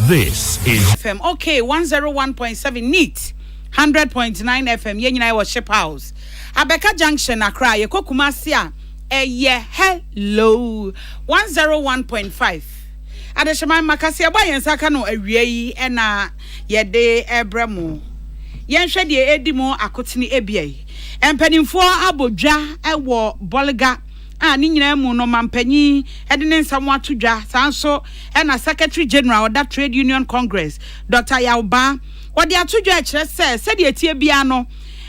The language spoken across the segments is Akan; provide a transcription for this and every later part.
This is FM. Okay, 101.7 NEAT, 100.9 FM. Yɛn nyinaa wɔ Ship House. Abeka Junction, Accra. Yɛkɔ Kumasi a. Ɛyɛ Hello! one zero one point five Adehyeman ma kaseɛbɔ a yɛn nsa aka no awia yi na yɛde rebrɛ mo. Yɛnhwɛ deɛ ɛredi mu akotene abia yi. Mpanimfoɔ abɔ dwa wɔ Bolga a ne nyinaa mu no mampanyin de ne nsam ato dwa. Saa nso na Secretary General ɔda Trade Union Congress, Dɔkta Yaw Baa, ɔde ato dwa kyerɛ sɛ sɛdeɛ ɛteɛ biara no,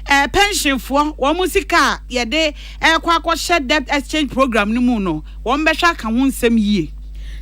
eh, pɛnhyenfoɔ wɔn sika a yɛde ɛrekɔ akɔhyɛ Debt Exchange Program no mu no, wɔbɛhwɛ aka ho nsɛm yie.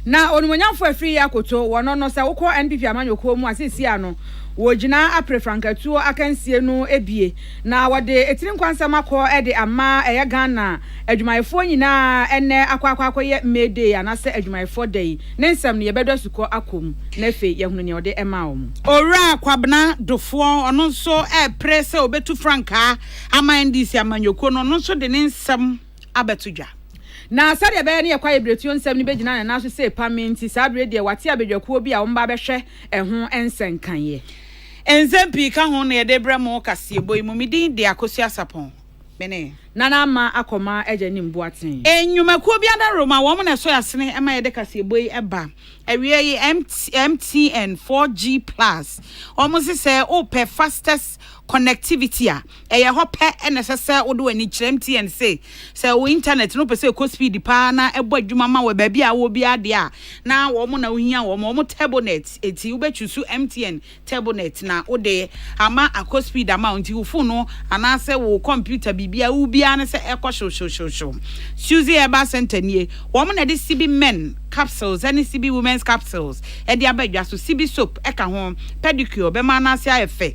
Na onimuonyamfo a ɛfiri yɛ akoto wɔ no no, sɛ wokɔ NPP amanyɔkuo mu a, seesei ara no, wɔgyina apere frankatuo akansie no abie, na wɔde tiri nkwa nsɛm akɔ de ama ɛyɛ Ghana adwumayɛfoɔ nyinaa ɛnnɛ akɔ akɔ akɔyɛ May Day anaasɛ adwumayɛfoɔ da yi ne nsɛm no, yɛbɛdɔ asukɔ akɔ mu na afei yɛahunu nea wɔde maa wɔn. Owura Kwabena Dofoɔ, ɔno nso repere sɛ ɔbɛtu frankaa Aman NDC amanyɔkuo no ɔno nso de ne nsɛm abɛto dwa. Na sɛdeɛ ɛbɛyɛ ne yɛ Kwaye Bretuo nsɛm no bɛgyina ne nan so sɛ ɛpame nti, saa berɛ yi deɛ wate abadwakuo bi a wɔba abɛhwɛ ɛho nsɛnkaeɛ. Nsɛm pii ka ho na yɛde rebrɛ mo wɔ kaseɛbɔ yi mu. Me din de Akosua Asapɔn. Me ne. Nana Ama Akɔma Agya Nim Boateng. Nnwumakuo bi adaworoma, wɔn na ɛsɔ yɛn asene ma yɛde kaseɛbɔ yi ba. Awieɛ yi, MTN 4G Plus, wɔn se sɛ wopɛ fastest connectivity a ɛyɛ hɔ pɛ na ɛsɛ sɛ wode w'ani kyerɛ MTN se sɛ wo internet no pɛ sɛ ɛkɔ speed paa na ɛbɔ adwuma ma wɔ baabi a wɔ biara deɛ a na wɔn na wohia wɔn wɔn turbonet eti wobɛchusu MTN turbonet na wode ama akɔ speed ama nti wo phone no anaasɛ wo computer biribiara wo biara ne sɛ ɛkɔ hyewhyewhyewhyew Suzy Herbal Center nie wɔn na ɛde CB men capsules ɛne CB women's capsules ɛde aba adwa so CB soap ɛka ho pedicure bɛma anaase ayɛ fɛ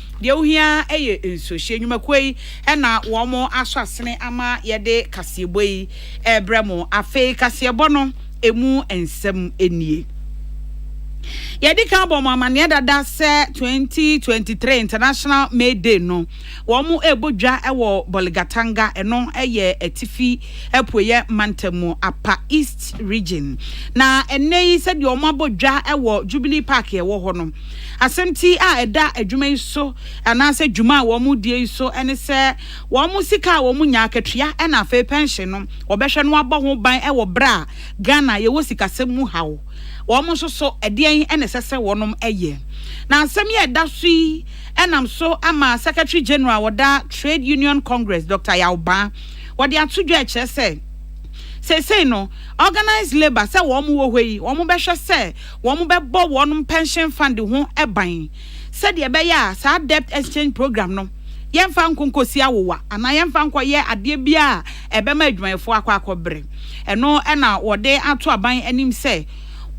Deɛ wohia ara yɛ nsuohyɛ. Nnwumakuo yi na wɔn asɔ asene ama yɛde kaseɛbɔ yi rebrɛ mo. Afei kaseɛbɔ no ɛmu nsɛm nie. Yɛadi kan abɔ mo amaneɛ dada sɛ 2023 International May Day no, wɔn rebɔ dwa wɔ Bolgatanga, ɛno yɛ Atifi Apueɛ Mantam mu, Apa East Region. Na ɛnnɛ yi sɛdeɛ wɔn abɔ dwa wɔ Jubilee Park a ɛwɔ hɔ no, Asɛmti a ɛda adwuma yi so anaasɛ dwuma a wɔredie yi so ne sɛ wɔn sika a wɔnya, akatua na afei pɛnhye no, wɔbɛhwɛ na wɔabɔ ho ban wɔ berɛ a Ghana yɛwɔ sikasɛm mu haw. Wɔn nso so, ɛdeɛn na ɛsɛ sɛ wɔnom yɛ? Na asɛm yi a ɛda so yi nam so ama Secretary General wɔda Trade Union Congress, Doctor Yaw Baa, wɔde ato dwa ɛkyerɛ sɛ seesei no Organised Labour sɛ wɔn wɔ hɔ yi, wɔbɛhwɛ sɛ wɔbɛbɔ wɔn pɛnhyen fund ho ban sɛdeɛ ɛbɛyɛ a saa debt exchange programme no yɛmfa nko nkɔsi awowa anaa yɛmfa nkɔyɛ adeɛ biara a ɛbɛma adwumayɛfoɔ akɔ akɔbrɛ. Ɛno na wɔde ato aban anim sɛ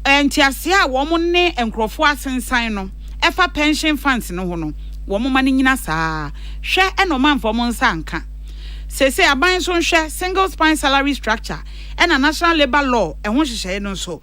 nteaseɛ a wɔn ne nkorɔfoɔ asensan no ɛfa pɛnhyen funds no ho no wɔn ma no nyina saa ara. Hwɛ na wɔn amfa wɔn nsa anka. Seesei aban nso nhwɛ Single Span Salary Structure ɛna National Labour Law ɛho nhyehyɛeɛ no nso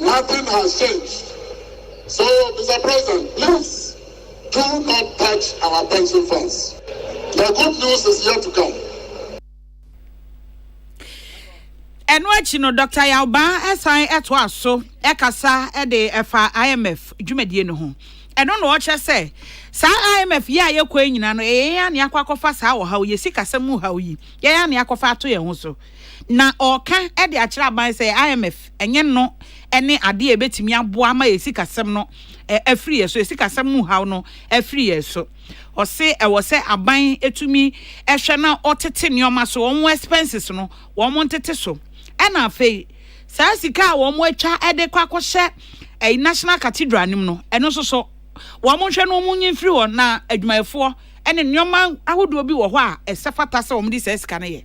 Nothing has changed so Mister President please do not touch our pension funds the good news is yet to come. Ɛno akyi no, Dr. Yawbaa san toa so kasa de ɛfa IMF dwumadie no ho. Ɛno na ɔkyerɛ sɛ saa IMF yi a yɛkɔ nyinaa no, ɛyɛ yɛn a ne akɔ akɔfa saa ɔhaw yi, sikasɛm mu haw yi, yɛn a ne akɔfa ato yɛn ho so. Na ɔreka de akyerɛ aban sɛ IMF ɛnyɛ no ne adeɛ a ɛbɛtumi aboa ama yɛn sikasɛm no afiri yɛn so, yɛn sikasɛm mu haw no afiri yɛn so. Ɔse ɛwɔ sɛ aban tumi hwɛ na ɔtete nneɛma so, wɔn expenses no wɔn ntete so. Ɛna afei saa sika a wɔn atwa de kɔ akɔhyɛ ɛyi National Cathedral no mu no, ɛno nso so wɔn nhwɛ no wɔn nyi mfiri hɔ na adwumayɛfoɔ ɛne nneɛma ahodoɔ bi wɔ hɔ a ɛsɛ fata sɛ wɔn de saa sika no yɛ.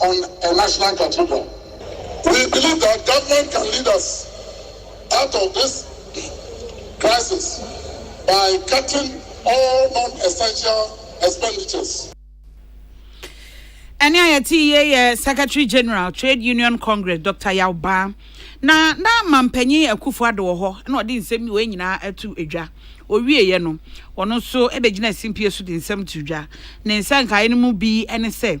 on a national cathedral. We believe that government can lead us out of this crisis by cutting all non-essential expenditures. ɛne a yɛte yie yɛ secretary general trade union congress dr yaw baa na na mampanyin akufo ado wɔ hɔ na ɔde nsɛm bi wɔ nyinaa ato dwa ɔwieeɛ no ɔno nso bɛgyina simpie so de nsɛm to dwa ne nsɛnkaeɛ no mu bi ne sɛ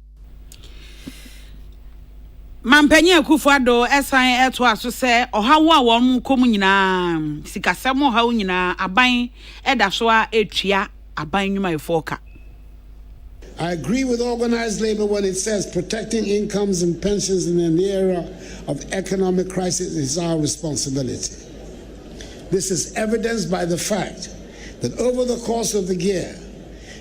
Mampanyin Akuffo Addo san toa so sɛ, Ɔhaw a wɔkɔ mu nyinaa, sikasɛm ɔhaw nyinaa, aban da so ara etua aban nnwumayɛfoɔ ka. I agree with organised labour when it says protecting incomes and pensions in an era of economic crisis is our responsibility. This is evidenced by the fact that over the course of the year,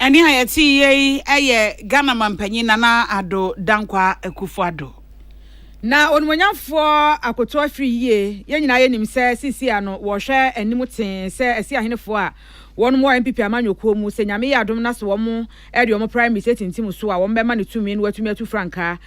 Ɛnne a yɛteeɛ yi yɛ Ghana mampanyin Nana Addo Dankwa Akufo-Addo. Na Onimuonyamfoɔ akoto afiri yie. Yɛn nyinaa yɛnim sɛ seesei a no wɔrehwɛ anim tee sɛ Asiahenefoɔ a wɔnom wɔ NPP amanyɔkuo mu sɛ Nyame yɛ adom na sɛ wɔn de wɔn primaries atintim so a wɔbɛma no tumi na watumi atu frankaa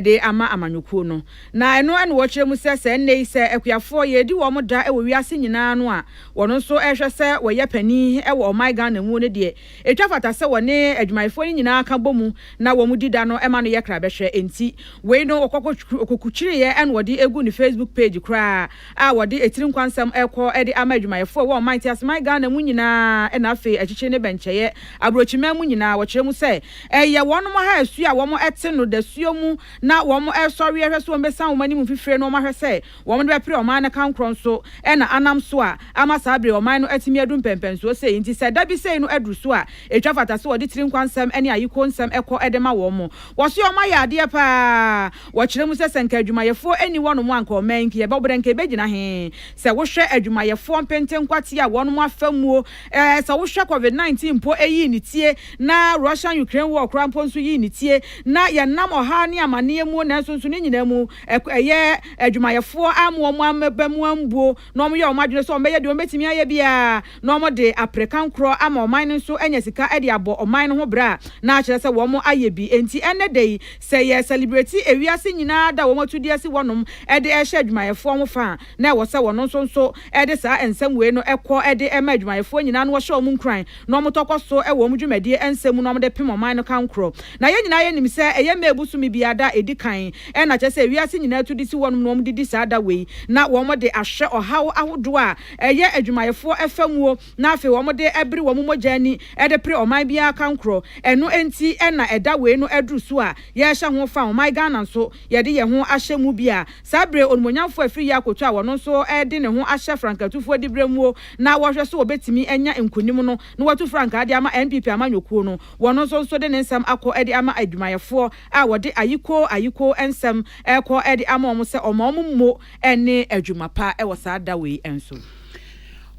de ama amanyɔkuo no. Na ɛno na wɔkyerɛ mu sɛ, sɛ ɛnnɛ yi sɛ akuafoɔ yɛredi wɔn da wɔ wiase nyinaa no a, wɔn nso rehwɛ sɛ wɔyɛ panin wɔ ɔman Ghana mu no deɛ, ɛtwa fata sɛ wɔne adwumayɛfoɔ no nyinaa ka bɔ mu na wɔdi da no ma no yɛ krabɛhwɛ. Enti wei no ɔkɔkukyireɛ na ɔde agu ne Facebook page koraa. a wɔde etiri nkwa nsɛm rekɔ de ama adwumayɛfoɔ wɔ ɔman teaseman Ghana mu nyinaa ɛna afei akyikyi ne bɛnkyɛeɛ abrokyiman mu nyinaa wɔkyerɛ mu sɛ ɛyɛ wɔnom ha asuo a wɔn te no dasuo mu na wɔn resɔre ɛhwɛ sɛ wɔn bɛsan wɔn anim mfifire no wɔn ahwɛ sɛ wɔn de bɛpere ɔman no kankorɔ nso ɛna anam so a ama saa bere ɔman no atumi adu mpɛmpɛnsoɔ sei nti sɛ dabi sei no aduru so a ɛtwa fata sɛ wɔde tiri nkwa nsɛm ne ayiko nsɛm kɔ de ma wɔn wɔse wɔn ayɛ adeɛ paa Wɔkyerɛ mu sɛ, sɛ nka adwumayɛfoɔ nni hɔnom a nka ɔman nkeɛ bɛbɔ dɛn? Nka ɛbɛgyina he? Sɛ wohwɛ adwumayɛfoɔ mpenten nkwate a wɔnom afa muo, ɛɛ sɛ wohwɛ covid 19 mpo ɛyii ne tie, na Russian Ukraine war koraa mpo nso yii ne tie, na yɛnam ɔhaw ne amaneɛ muo nanso nso ne nyinaa mu ɛyɛ adwumayɛfoɔ amma wɔn aba mu ambuo. na wɔyɛ wɔn adwene sɛ wɔbɛyɛ deɛ wɔbɛtumi ayɛ biara na wɔde apere kankorɔ ama ɔman no nso anya sika de abɔ ɔman no ho bra na akyerɛ sɛ wɔn ayɛ bi. Enti ɛnnɛ da yi sɛ yɛ sɛlibreti ewiase nyinaa da a wɔn atu di asi hɔnom de rehyɛ adwumayɛfoɔ ho fa a, na ɛwɔ sɛ wɔn nso nso de saa nsɛm wei no kɔ de ma adwumayɛfoɔ nyinaa na wɔhyɛ wɔn nkuran na wɔtɔ kɔ so wɔ wɔn dwumadie nsɛm mu na wɔde pem ɔman no kankorɔ. Na yɛn nyinaa yɛnim sɛ ɛyɛ May bosome biara da a ɛdi kan, ɛna kyerɛ sɛ wiase nyinaa tu de si hɔnom na wɔde di saa da wei, na wɔde ahwɛ ɔhaw ahodoɔ a ɛyɛ adwumayɛfoɔ fa muo, na afei wɔde bere wɔn mogya ani de pere ɔman biara kankorɔ. Ɛno nti na ɛda wei no aduru so a yɛrehyɛ ho fa, ɔman Ghana nso yɛde yɛn ho ahyɛ mu bi a, Saa bere onumonyamfo a ɛfiri Yakow to a wɔno nso de ne ho ahyɛ frankatufoɔ dibrɛ muo na wɔhwɛ so wɔbɛtumi anya nkunim no na watu frankaa de ama NPP amanyɔkuo no, wɔno nso nso de ne nsɛm akɔ de ama adwumayɛfoɔ a wɔde ayikoo ayikoo nsɛm rekɔ de ama wɔn sɛ wɔmma wɔn mmo ne adwuma pa wɔ saa da wei nso.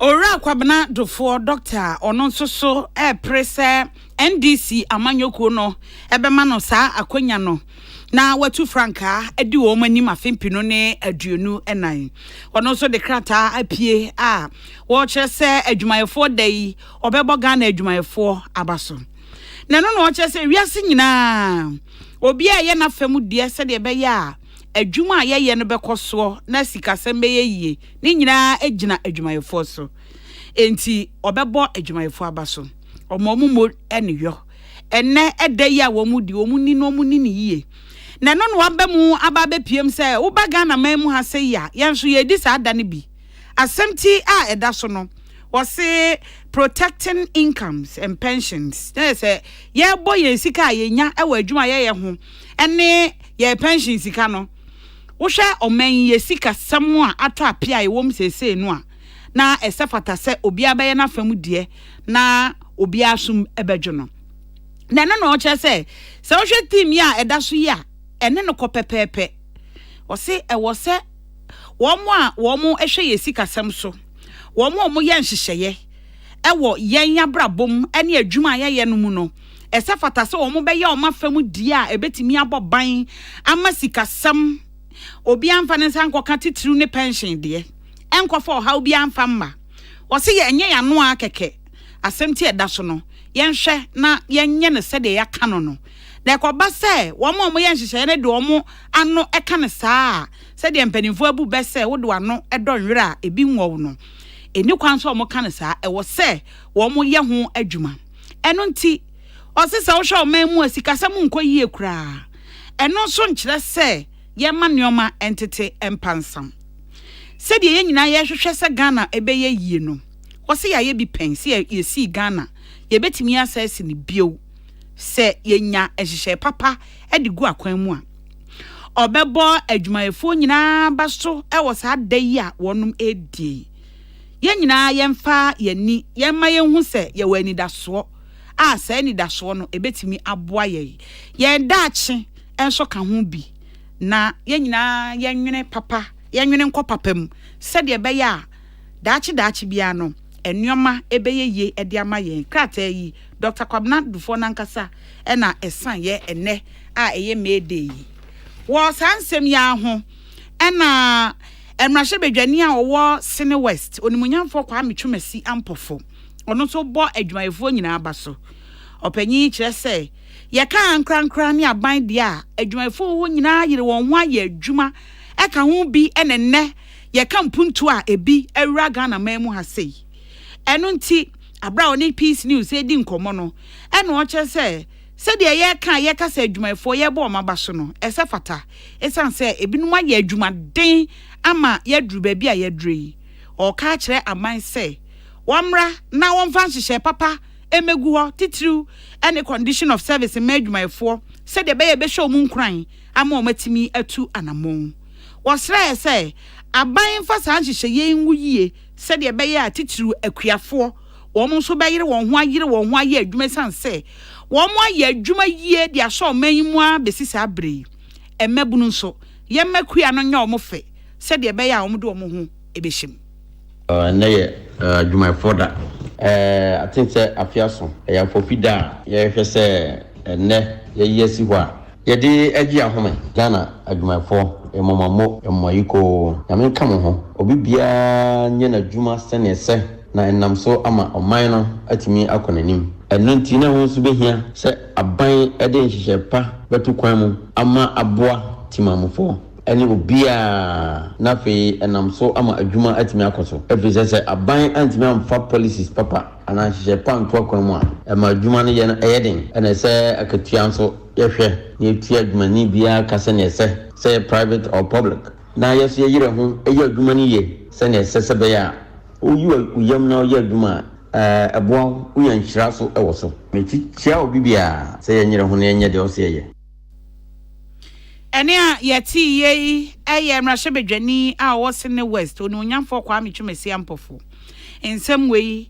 Owura Kwabena Dufoɔ, Dɔkta, a ɔno nso so repere sɛ NDC amanyɔkuo no bɛma no saa akwanya no, na watu frankaa adi wɔn anim afe mpenu ne aduonu nan. Ɔno nso de krataa apue a wɔkyerɛ sɛ adwumayɛfoɔ da yi ɔbɛbɔ Ghana adwumayɛfoɔ aba so. Na ɛno na ɔkyerɛ sɛ wiase nyinaa obiara ɛyɛ n'afa mu deɛ sɛdeɛ ɛbɛyɛ a adwuma a yɛyɛ no bɛkɔ soɔ na sikasɛm bɛyɛ yie ne nyinaa gyina adwumayɛfoɔ so. Enti ɔbɛbɔ adwumayɛfoɔ aba so. Ɔma wɔn mo ne yɔ. Ɛnnɛ da yi a wɔredi, wɔnni no, wɔnni no yie. Na ɛno na wɔaba mu aba abɛpiem sɛ woba Ghanaman mu ha sɛ yi a, yɛn nso yɛredi saa da no bi. Asɛm ti a ɛda so no, wɔse protecting incomes and pensions, na yɛ sɛ yɛrebɔ yɛn sika a yɛnya wɔ adwuma a yɛyɛ ho ne yɛn pension sika no. Wohwɛ ɔman yi yɛ sikasɛm a atɔ apea a ɛwɔ mu seesei no a, na ɛsɛ fata sɛ obiara bɛyɛ n'afa mu deɛ na obiara som bɛdwo no. Na ɛno na ɔkyerɛ sɛ sɛ wohwɛ theme yi a ɛda so yi a, ɛne no kɔ pɛpɛɛpɛ. Ɔse ɛwɔ sɛ wɔn a wɔhwɛ yɛn sikasɛm so, wɔn a wɔyɛ nhyehyɛeɛ ɛwɔ yɛn abrabɔ mu ne adwuma a yɛyɛ no mu no, ɛsɛ fata sɛ wɔn bɛyɛ wɔn afa mu deɛ a ɛbɛtumi abɔ ban ama sikasɛm, obiara mfa ne nsa nkɔka titiriw ne pɛnhyen deɛ. ɛnkɔfa ɔhaw biara mfa mma. Wɔse yɛ ɛnyɛ yɛano ara kɛkɛ, asɛm nti a ɛda so no, yɛnhwɛ na yɛnyɛ no sɛdeɛ yɛaka no no. Na ɛkɔba sɛ wɔn a wɔyɛ nhyehyɛeɛ no de wɔn ano ka no saa a, sɛdeɛ mpanimfoɔ abu bɛ sɛ wode w'ano dɔ nwerɛ a ebi nwɔ wo no, ɛnni kwan sɛ wɔka no saa, ɛwɔ sɛ wɔyɛ ho adwuma. Ɛno nti, wɔse sɛ wohwɛ ɔman mu a sikasɛm nkɔ yie koraa a, ɛno nso nkyerɛ sɛ, yɛmma nneɛma ntete mpansam. Sɛdeɛ yɛn nyinaa yɛhwehwɛ sɛ Ghana bɛyɛ yie no, wɔse yɛayɛ bi pɛn. Sɛ yɛsii Ghana, yɛbɛtumi asan asi no bio sɛ yɛnya nhyehyɛe papa de gu akwan mu a. Ɔbɛbɔ adwumayɛfoɔ nyinaa aba so wɔ saa da yi a wɔnom ɛredie yi. Yɛn nyinaa yɛmfa yɛn ani yɛmma yɛnhu sɛ yɛwɔ anidasoɔ a saa anidasoɔ no ɛbɛtumi aboa yɛn, yɛn daakye, nso ka ho bi, na yɛn nyinaa yɛnwene papa, yɛnwene nkɔ papa mu, sɛdeɛ ɛbɛyɛ a daakye daakye biara no, nneɛma bɛyɛ yie de ama yɛn. Krataa yi, Dɔkta Kwabena Dufour no ankasa na ɛsianeɛ ɛnnɛ a ɛyɛ May Day yi. Wɔ saa nsɛm yi ara ho na mmarahyɛbadwani a ɔwɔ Sene West, Onimuonyamfoɔ Kwame Twumasi Ampofo, ɔno nso bɔ adwumayɛfoɔ nyinaa aba so. Ɔpanyin yi kyerɛ sɛ, Yɛka ankorankoro ne aban deɛ a, adwumayɛfoɔ wɔ hɔ nyinaa yere wɔn ho ayɛ adwuma ka ho bi na nnɛ yɛka mpuntuo a ebi awura Ghana man mu ha sei. Ɛno nti, berɛ a ɔne Peace News redi nkɔmmɔ no, ɛna ɔkyerɛ sɛ sɛdeɛ yɛka a yɛka sɛ adwumayɛfoɔ yɛrebɔ wɔn aba so no, ɛsɛ fata. Ɛsiane sɛ ebinom ayɛ adwumaden ama yɛaduru baabi a yɛaduru yi, ɔreka akyerɛ aban sɛ wɔmmra na wɔmfa nhyehyɛe papa mmegu hɔ, titiriw ne condition of service mma adwumayɛfoɔ sɛdeɛ ɛbɛyɛ a ɛbɛhyɛ wɔn nkuran ama wɔatumi atu anammɔn. Wɔsrɛɛ sɛ aban mfa saa nhyehyɛeɛ yi nwo yie sɛdeɛ ɛbɛyɛ a titiriw akuafoɔ, wɔn nso bɛyere wɔn ho ayere wɔn ho ayɛ adwuma ɛsiane sɛ wɔayɛ adwuma yie de asɔ ɔman yi mu ara bɛsi saa berɛ yi. Mmabunu nso, yɛmma akua no nyɛ wɔn fɛ sɛdeɛ ɛbɛyɛ a wɔde wɔn ho bɛhyɛ mu. Ɔɔ nnɛ yɛ adwumayɛfoɔ da. Ɛɛ I think sɛ afe aso. Ɛyɛ afɔpi da a yɛhwɛ sɛ ɛnnɛ yɛyi asi hɔ a. Yɛde gye ahome. Ghana adwumayɛfoɔ, yɛmɔ mo ammo, yɛmɔ mo ayikoo. Nyame nka mo ho. Obi biara nyɛ n'adwuma sɛnea ɛsɛ na ɛnam so ama ɔman no atumi akɔ n'anim. Ɛno nti na ɛho nso bɛhia sɛ aban de nhyehyɛɛ pa bɛto kwan mu ama aboa Timamufoɔ. ne obiara, na afei ɛnam so ama adwuma atumi akɔ so, efisɛ sɛ aban antumi amfa policies papa anaa nhyehyɛe pa anto akwan mu a, ɛma adwuma no yɛ no ɛyɛ den. Ɛna ɛsɛ akatua nso, yɛhwɛ na yɛtua adwumani biara ka sɛnea ɛsɛ, sɛ ɛyɛ private or public, na yɛn nso yɛyerɛ ho yɛ adwuma no yie sɛnea ɛsɛ sɛ ɛbɛyɛ a woyi wo yam na woyɛ adwuma a, ɛboa wo, wonya nhyira nso wɔ so. Mekyia obi biara sɛ yɛnyerɛ ho na yɛnyɛ deɛ ɔse yɛyɛ. Ɛnne a yɛteeɛ yi yɛ mmarahyɛbadwani a ɔwɔ Sene West, Onuonyamfoɔ Kwame Twumasi Ampofo nsɛm wei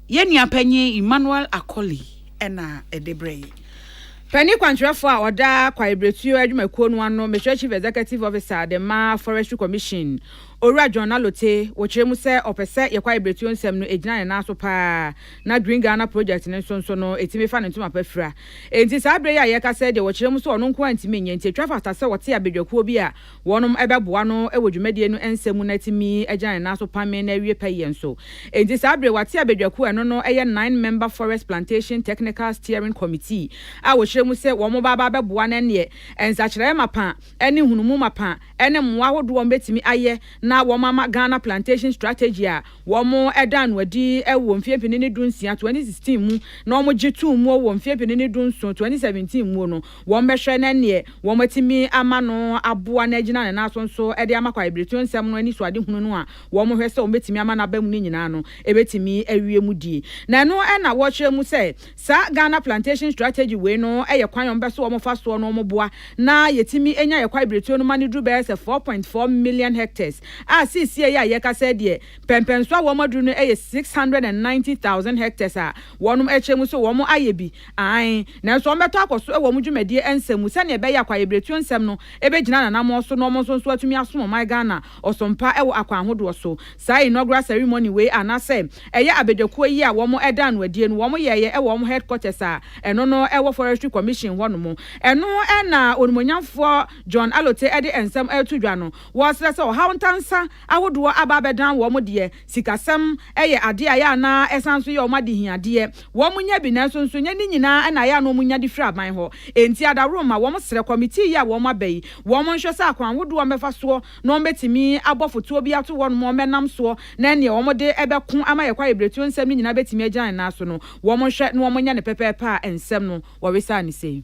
yɛn nua panyin Emmanuel Akoli na ɛde brɛ yɛn. Panin kwankyerɛfoɔ a ɔda kwaebiretuo adwumakuo no ano, Mesrɛ Chief Executive Officer de ma Forestry Commission, Owura John Alotey, wɔkyerɛ mu sɛ ɔpɛ sɛ yɛn kwaebiretuo nsɛm no gyina ne nan so paa, na Green Ghana Project no nso nso no, ɛtumi fa ne ntoma pa fira. Enti saa berɛ yi a yɛreka sɛ deɛ wɔkyerɛ mu sɛ ɔno nko ara ntumi nyɛ nti ɛtwa fata sɛ ɔte abadwakuo bi a wɔnom bɛboa no wɔ dwumadie no nsa mu na atumi agyina ne nan so pame na awie pɛyɛ nso. Enti saa berɛ yi wate abadwakuo a ɛno no yɛ Nine Member Forest Plantation Technical Steering Committee a wɔkyerɛ mu sɛ wɔnom ba aba abɛboa no ɛnneɛ nsakyeraɛ mapa ne nhunumu mapa ne mmoa ahodoɔ a wɔbɛtumi ayɛ na wɔama Ghana Plantation Strategy a Wɔdaa no adi wɔ mfie mpene ne du nsia, 2016, mu na wɔgye too mu wɔ mfie mpene ne du nson, 2017, mu no, wɔbɛhwɛ na neɛ wɔatumi ama no aboa no agyina ne nan so nso de ama kwaebiretuo nsɛm no anisoadehunu no a wɔhwɛ sɛ wɔbɛtumi ama no aba mu no nyinaa no, ɛbɛtumi awie mu die. Na ɛno na wɔkyerɛ mu sɛ Saa Ghana Plantation Strategy wei no yɛ kwan a wɔbɛ so wɔn fa soɔ no wɔn boa na yɛtumi nya yɛ kwae biretuo no ma no duru bɛyɛ sɛ four point four million hectares a seesie yi a yɛka sɛ deɛ pɛmpɛnso a wɔn aduru no yɛ six hundred and ninety thousand hectares a wɔnom ɛkyɛ mu so wɔn ayɛ bi aane nanso wɔn bɛtɔ akɔ so wɔ wɔn dwumadie nsɛm mu sɛdeɛ ɛbɛyɛ a kwaebiretuo nsɛm no bɛgyina nanamoɔ so na wɔn nso nso atumi asom ɔman Ghana ɔsom pa wɔ akwan ahodoɔ so. Saa inaugural ceremony wei anaasɛ ɛyɛ abadwakuo yi a wɔn ɛdaa no adie no wɔn yɛɛyɛ ɛwɔ wɔn headquarters a ɛno no ɛwɔ Forestry Commission hɔ nom. Ɛno na Onimuonyamfoɔ John Allote ɛde nsɛm ɛreto dwa no. Wɔsrɛ sɛ ɔhaw ntansa ahodoɔ aba abɛdan wɔn deɛ. Sikasɛm yɛ adeɛ a ɛyɛ a na ɛsan nso yɛ wɔn adehiadeɛ. Wɔnya bi nanso nso ɛnyɛ ne nyinaa na ɛyɛ a na wɔnya de firi aban hɔ. Enti adaworoma, wɔsrɛ kɔmitii yi a wɔaba yi, wɔnhwɛ sɛ akwan ahodoɔ a wɔbɛfa soɔ na wɔbɛtumi abɔ fotoɔ bi ato hɔnom a wɔbɛnam soɔ na neɛ wɔde bɛko ama yɛn kwaebiretuo nsɛm no nyinaa bɛtumi agyina ne nan so no, wɔnhwɛ na wɔnyɛ no pɛpɛɛpɛ a nsɛm no wɔwesaa no sei.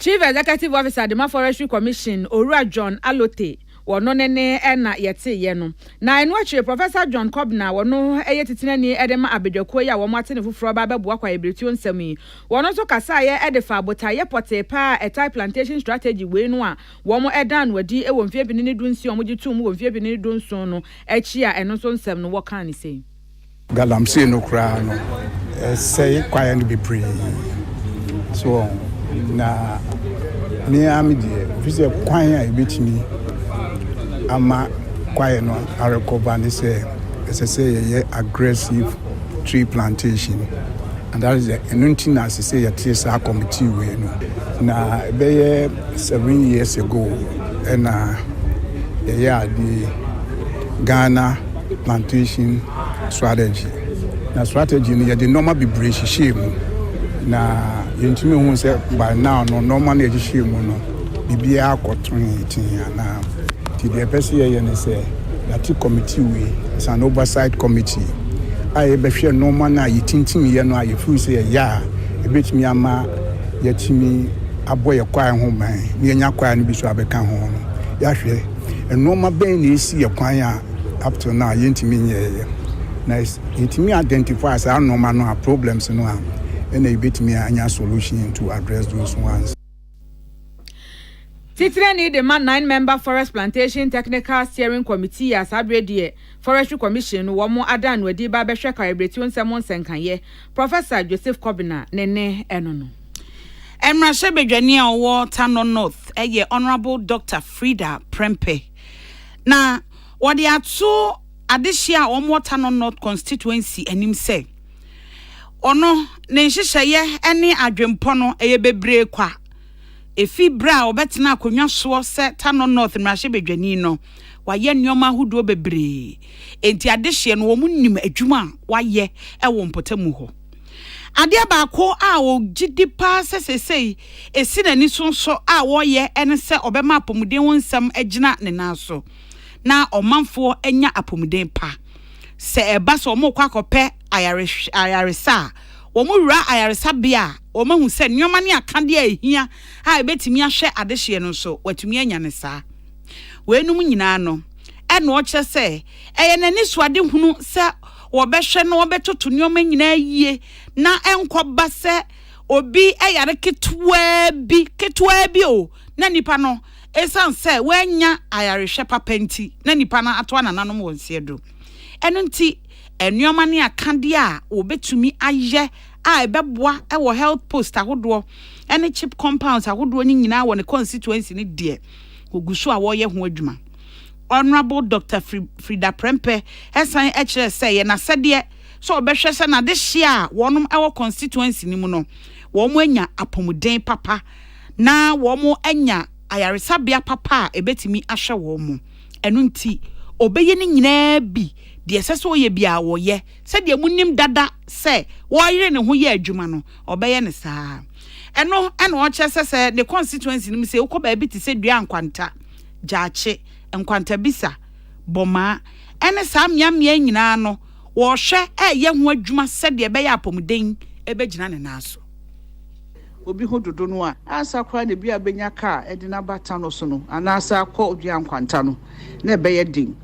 Chief Executive Officer Dema Forestry Commission, Owura John Alote, wɔno ne ne na yɛteeɛ no. Na ɛno akyire, Professor John Kobna, wɔno yɛ titenani de ma abadwakuo yi a wɔate ne foforɔ ba abɛboa kwaebiretuo nsɛm yi. Wɔno nso kasaeɛ de faa botaeɛ pɔtee pa ara a ɛtae plantation strategy wei no a wɔdaa no adi wɔ mfeɛ mpini ne du nsia a wɔgye too mu wɔ mfeɛ mpini ne du nson no akyi a ɛno nso nsɛm no wɔkaa ne sei. Galamsey no koraa no ɛsɛe kwaeɛ no bebree so wɔ na me ara me deɛ fi sɛ kwan a ɛbɛtumi ama kwaeɛ no arekɔba ne sɛ ɛsɛ sɛ yɛyɛ aggressive tree plantation and that is ɛno nti na ɛsɛ sɛ yɛte saa committee wei no na ɛbɛyɛ seven years ago ɛna yɛyɛ adeɛ Ghana plantation strategy. Na strategy no yɛde nneɛma bebree hyehyɛɛ mu na yɛntumi hu sɛ by now no nneɛma no yɛhyehyɛɛ mu no biribiara akɔtoe tee anaa. Nti deɛ ɛpɛ sɛ yɛyɛ ne sɛ yɛate committee wei, it's an oversight committee a yɛbɛhwɛ nneɛma no a yɛtintimiiɛ no a yɛfiri sɛ ɛyɛ a ɛbɛtumi ama yɛatumi abɔ yɛ kwae ho ban na yɛnya kwae no bi so abɛka ho no yɛahwɛ nneɛma bɛn na ɛsi yɛ kwan a up till now yɛntumi nyɛɛyɛ na yɛtumi identify saa nnoɔma no a problems no a ɛna yɛbɛtumi anya solution to address those ones. Titrani de ma nine member forest plantation technical steering committee a saa berɛ deɛ forestry commission no wɔn adan no adi ba bɛhwɛ kareberetuo nsɛm nsɛnkaeɛ Professor Joseph Kobina ne ne ɛno no. Mmarahyɛbadwani a ɔwɔ Tano North yɛ Honourable Doctor Frida Prempeh. Na wɔde ato adehye a wɔwɔ Tano North Constituency anim sɛ, ɔno ne nhyehyɛeɛ ne adwenpɔ no yɛ bebree kwa ɛfiri berɛ a ɔbɛtenaa akonnwa soɔ sɛ Tano North mmarahyɛbadwani no. Wayɛ nneɛma ahodoɔ bebree, enti adehyeɛ no wɔnim adwuma a wayɛ wɔ mpɔtamu hɔ. Adeɛ baako a ɔgye di pa ara sɛ seesei ɛsi n'ani so nso a ɔreyɛ ne sɛ ɔbɛma apɔmuden ho nsɛm agyina ne nan so na ɔmanfoɔ anya apɔmuden pa. Sɛ ɛba sɛ wɔrekɔ akɔpɛ ayarehw ayaresa a, wɔwura ayaresabea a, wɔahu sɛ nneɛma ne akadeɛ a ɛhia a ɛbɛtumi ahwɛ adehyeɛ no nso, wɔatumi anya no saa. Weinom nyinaa no, ɛnnoɔ kyerɛ sɛ ɛyɛ n'anisoadehunu sɛ Wɔbɛhwɛ na wɔbɛtoto nneɛma nyinaa yie na ɛnkɔba sɛ obi yare ketewaa bi, ketewaa bi o, na nipa no, esiane sɛ wannya ayarehwɛ papa nti, na nipa no atoa nananom wɔ nseɛ do. Ɛno nti, nneɛma ne akadeɛ a wɔbɛtumi ayɛ a ɛbɛboa wɔ health post ahodoɔ ne chip compounds ahodoɔ no nyinaa wɔ ne constituency no deɛ, wɔgu so a wɔreyɛ ho adwuma. Honourable Doctor Frida Prempeh san kyerɛɛ sɛ ɛyɛ n'asɛdeɛ sɛ ɔbɛhwɛ sɛ n'adehyeɛ a wɔnom wɔ constituency no mu no wɔn anya apɔmuden papa na wɔn anya ayaresabea papa a ɛbɛtumi ahwɛ wɔn ɛno nti ɔbɛyɛ ne nyinaa bi deɛ ɛsɛ sɛ ɔyɛ bi a ɔyɛ sɛdeɛ mu nim dada sɛ wɔyere ne ho yɛ adwuma no ɔbɛyɛ ne saa ɛno ɛna ɔkyerɛ sɛ sɛ ne constituency no mu sɛ wokɔ baabi te sɛ dua nkwanta gyaakye, nkwantabisa, bɔmaa, ɛne saa mmeammea nyinaa no wɔrehwɛ reyɛ ho adwuma sɛdeɛ ɛbɛyɛ a apɔmuden bɛgyina ne nan so. Obi ho dodo no a, ansa koraa na ebi abɛnya ka a ɛde no aba ta no so no anaasɛ akɔ dua nkwanta no, na ɛbɛyɛ den.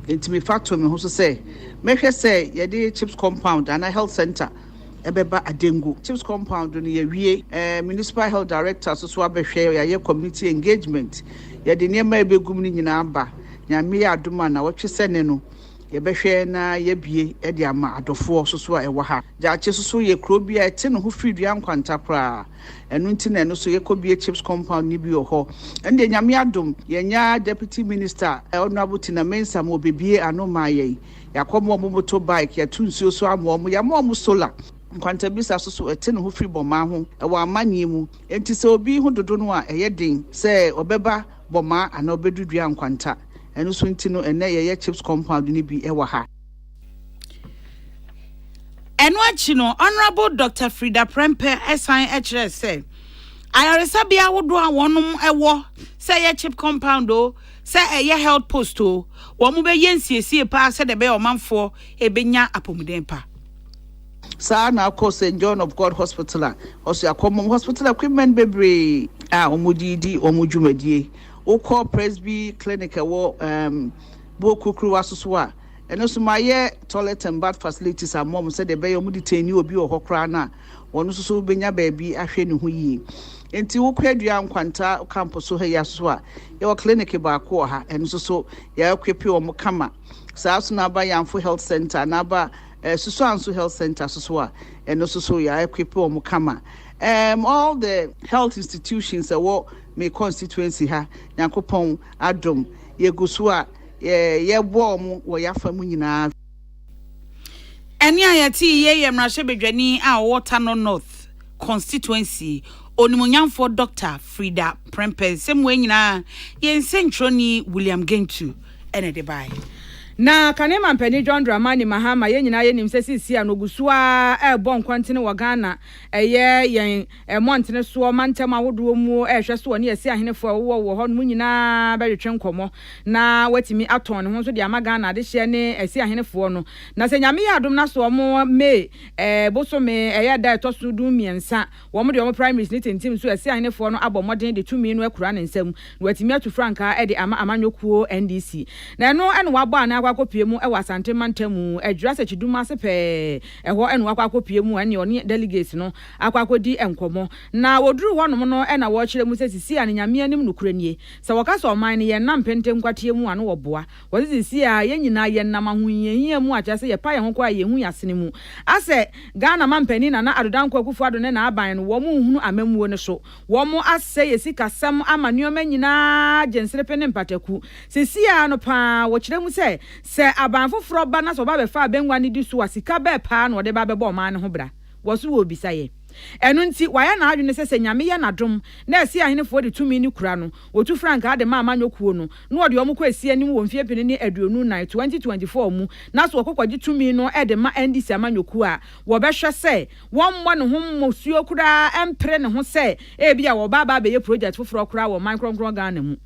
Enti mefa too me ho so sɛ mɛhwɛ sɛ yɛde Chips Compound anaa Health Centre ɛbɛba Adengu. Chips compound no yɛawie. Ɛɛ Municipal Health Director so so abɛhwɛ, yɛayɛ community engagement. Yɛde nneɛma a ɛbɛgum no nyinaa aba. Nyame yɛ adom a nawɔtwe sɛ ne no yɛbɛhwɛ na yɛabie de ama adɔfoɔ so so a ɛwɔ ha. Gyaakye so so yɛ kuro bi a ɛte ne ho firi dua nkwanta koraa. Ɛno nti na ɛno so yɛkɔbie Chips compound no bi wɔ hɔ. Ɛno deɛ Nyame adom yɛanya Deputy Minister Honourable Tina Mensah ma ɔbɛbie ano maa yɛn. Yɛakɔma wɔn moto bike, yɛato nsuo so ama wɔn, yɛama wɔn sola. Nkwantabisa so so ɛte ne ho firi Bɔmaa ho wɔ amanneɛ mu, enti sɛ obi ho dodo no a ɛyɛ den sɛ ɔbɛba Bɔmaa anaa ɔbɛdu dua nkwanta. Ɛno nso nti no ɛnnɛ yɛyɛ chips compound no bi wɔ ha. Ɛno akyi no, Honourable Doctor Frida Prempeh san kyerɛɛ sɛ, Ayaresabea ahodoɔ a wɔnom wɔ, sɛ ɛyɛ chip compound o, sɛ ɛyɛ health post o, wɔn bɛ yɛ nsiesie paa sɛdeɛ ɛbɛyɛ ɔmanfoɔ ɛbɛ nya apomuden pa. Saa ara na akɔ Saint John of God hospital a ɔso akɔ mom hospital equipment bebree a wɔn de di wɔn dwumadie. Wo kɔ Presby clinic ɛwɔ um, Buo Kurukuruwa so so a, ɛno nso ma yɛ toilet and bath facilities ama wɔn sɛdeɛ ɛbɛyɛ wɔn de tɛni obi wɔ hɔ koraa no a, wɔn nso so bɛnya baabi ahwɛ ne ho yie. Nti wo kwadua nkwanta kampo so ha yi aso a, yɛwɔ clinic baako wɔ ha, ɛno nso so yɛakwepe wɔn kama. Saa nso na aba Yanfo Health Center na aba eh, Susuanso Health Center so so a, ɛno nso so yɛakwepe wɔn kama. Um, all the health institutions ɛwɔ me constituency ha, Nyankopɔn adom, yɛgu so a, yɛbɔ wɔn wɔ yɛafa mu nyinaa. Ɛnne a yɛte yi yɛ mmarahyɛbadwani a ɔwɔ Tano North constituency, Onimuonyamfoɔ Dɔkta Frida Prempeh nsɛm wei nyinaa yɛn nsɛntwerɛni William Gentu na ɛde baeɛ. Na kane mampanin John Dramani Mahama yɛn nyinaa yɛnim sɛ seesei no ɔgu so ara rebɔ nkɔntene wɔ Ghana ɛyɛ yɛn Mmɔntene soɔ mantam ahodoɔ muo rehwɛ so ɔne Asia ahenefoɔ a wɔwɔ wɔ hɔ nom nyinaa bɛtwetwe nkɔmmɔ na watumi atɔn ne ho nso de ama Ghana adehyeɛ ne Asia ahenefoɔ no. Na sɛ Nyame yɛ adom na sɛ wɔn May bosome ɛyɛ ɛda a ɛtɔ so du mmiɛnsa wɔn de wɔn primaries no tintim nso Asia ahenefoɔ no abɔ mmɔden de tumi no akura ne nsam na watumi atu frankaa de ama amanyɔkuo NDC. Na ɛno na wabɔ anan akɔ akɔpue mu wɔ Asante mantam mu, Adwira Sakyidum ase pɛɛ, ɛhɔ na wakɔ akɔpue mu ɛne ɔne delegates no akɔ akɔdi nkɔmmɔ. Na wɔduruu hɔnom no na wɔrekyerɛ mu sɛ Sisia no Nyame anim nokorɛ nie. Sɛ wɔka sɛ ɔman no yɛn nna mpenten nkwateɛ mu a na wɔboa wɔn sɛ Sisia a yɛn nyinaa yɛn nam ahohiahia mu a kyerɛ sɛ yɛpa yɛn ho kɔ a yɛnhu yɛn asene mu. Asɛ Ghana mampanin Nana Addo Dankwa Akufo Addo ne n'aban no wɔn nhunu amammuo no so. Wɔn asɛe yɛn sikasɛm ama nneɛma nyinaa gye nserepe ne mpataku. Sisia no pa ara wɔkyerɛ mu sɛ sɛ aban foforɔ ba na sɛ ɔba bɛfa abɛngua no di so a sika bɛɛ pa ara na ɔde ba bɛbɔ ɔman no ho bra. wɔ so wɔ obisayɛ. Ɛno nti, wayɛ n'adwene sɛ sɛ Nyame yɛ n'adom na Ɛseɛ Ahenefoɔ de tumi no kura no, wɔtu frankaa de ma Amanyɔ Kuo no, na wɔde wɔn kɔ Ɛseɛ anim wɔ mfeɛ pene ne aduonu nan, 2024, mu na so wɔkɔ kɔgye tumi no de ma NDC Amanyɔ Kuo a wɔbɛhwɛ sɛ wɔmmɔ ne ho mmusuo koraa ɛmpere ne ho sɛ ebia wɔba aba abɛyɛ project foforɔ koraa wɔ man krɔnkrɔn Ghana mu.